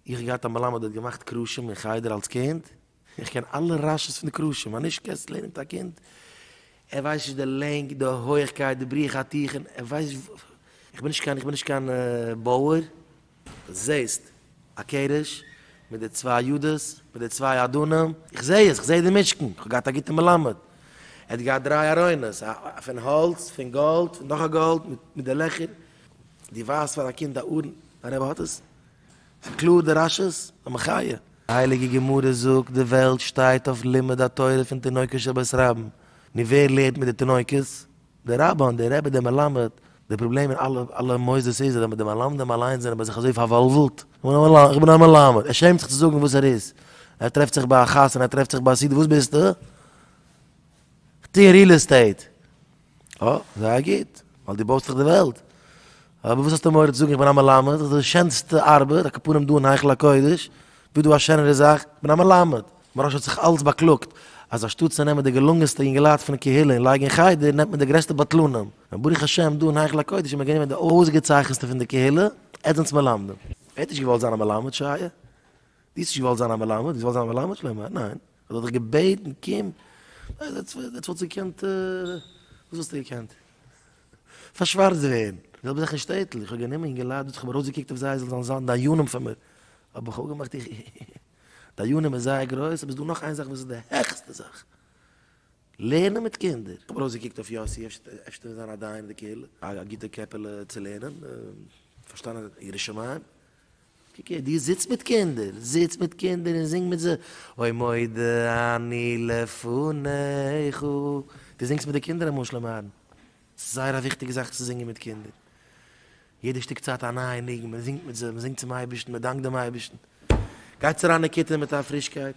איך האב געהאט א מלמד האט געמאכט קרשים אין חדר אלס קינד, איך קען אלע רשי ס פון די קרשים, א נישט קענסט לערנען מיט א קינד, ער ווייסט נישט די לענג די הויעכקייט די בריח התיכון, ער ווייסט נישט וואס, איך בין נישט קיין איך בין נישט קיין בויער. זעסט א קעריזש מיט די צוויי יודעס מיט די צוויי אדונים, איך זע עס, איך זע די משכן, איך האב געהאט א גוטע מלמד, ער האט געהאט דריי ארונות, פון האלץ, פון גאלד, פון נאך א גאלד, מיט די לעכער, דו ווייזט פאר א קינד א ארון, דיין רבי האט עס? ס'קלאר די רש'ס, א מחיה. די הייליגע גמרא זאגט די וועלט שטייט אויף לימוד התורה פון תינוקות של בית רבן, נו ווער לערנט מיט די תינוקות? די רבן, די רבי, די מלמד, די פראבלעם אין אלע אלע מוסדות איז אז די מלמדים אליינס זענען ביי זיך אזוי פארוואלוולט, איך בין א מלמד, ער שעמט זיך צו זאגן וואס ער איז, ער טרעפט זיך ביי א חתונה, ער טרעפט זיך ביי א סידור, וואס ביסטו? איך טוה ריעל עסטעיט, אה, זייער גוט, ווייל דו בויסט זיך די וועלט. אבער וואס האסטו מורא צו זאגן איך בין א מלמד, איך האב די שענסטע ארבעט, א קאפארעם דא אין היכל הקודש, וואס דא א שענערע זאך, איך בין א מלמד. מוהרא ש האט זיך אלץ באקלאגט אז אנשטאט צו נעמען די געלונגענסטע יונגעלייט פון קהילה און לייגן אין חדר, נעמט מען די גרעסטע בטלנים. און ברוך השם דא אין היכל הקודש האט מען גענומען די אויסגעצייכנסטע פון די קהילה, עטס זענטס מלמדים. ער האט נישט געוואלט זיין א מלמד, שייע? דו האסט נישט געוואלט זיין א מלמד? דו האסט געוואלט זיין א מלמד? שלמה, ניין. ער האט דיך געבעטן קום, עטס וואלטס געקענט, וואס וואלסטו געקענט? פארשווארצט ווערן. זעלבע זאך אין שטעטל, איך האב גענומען און געליידט דארט, איך האב ארויסגעקוקט אויף זיי זיי זאלן זיין דיינים פאר מיר, האב איך אפגעמאכט איך דיינים איז זייער גרויס, אבער ס'איז דא נאך איין זאך וואס איז די העכסטע זאך, לערנען מיט קינדער. איך האב ארויסגעקוקט אויף יאסי, אפשר וועט זיין א דיין אין די קהילה, א גוטע קעפעלע צו לערנען, פארשטאנען ירא שמים. קוק הער, דו זיצט מיט קינדער, זיץ מיט קינדער און זינג מיט זיי, אוי מודה אני לפניך, דו זינגסט מיט די קינדער אמאל שלום אהרן, ס'איז זייער א וויכטיגע זאך צו זינגען מיט קינדער, יעדע שטיק צייט א נייע ניגון, מען זינגט מיט זיי, מען זינגט צום אייבערשטן, מען דאנקט דעם אייבערשטן, גייטס אריין אין כיתה מיט א פרישקייט.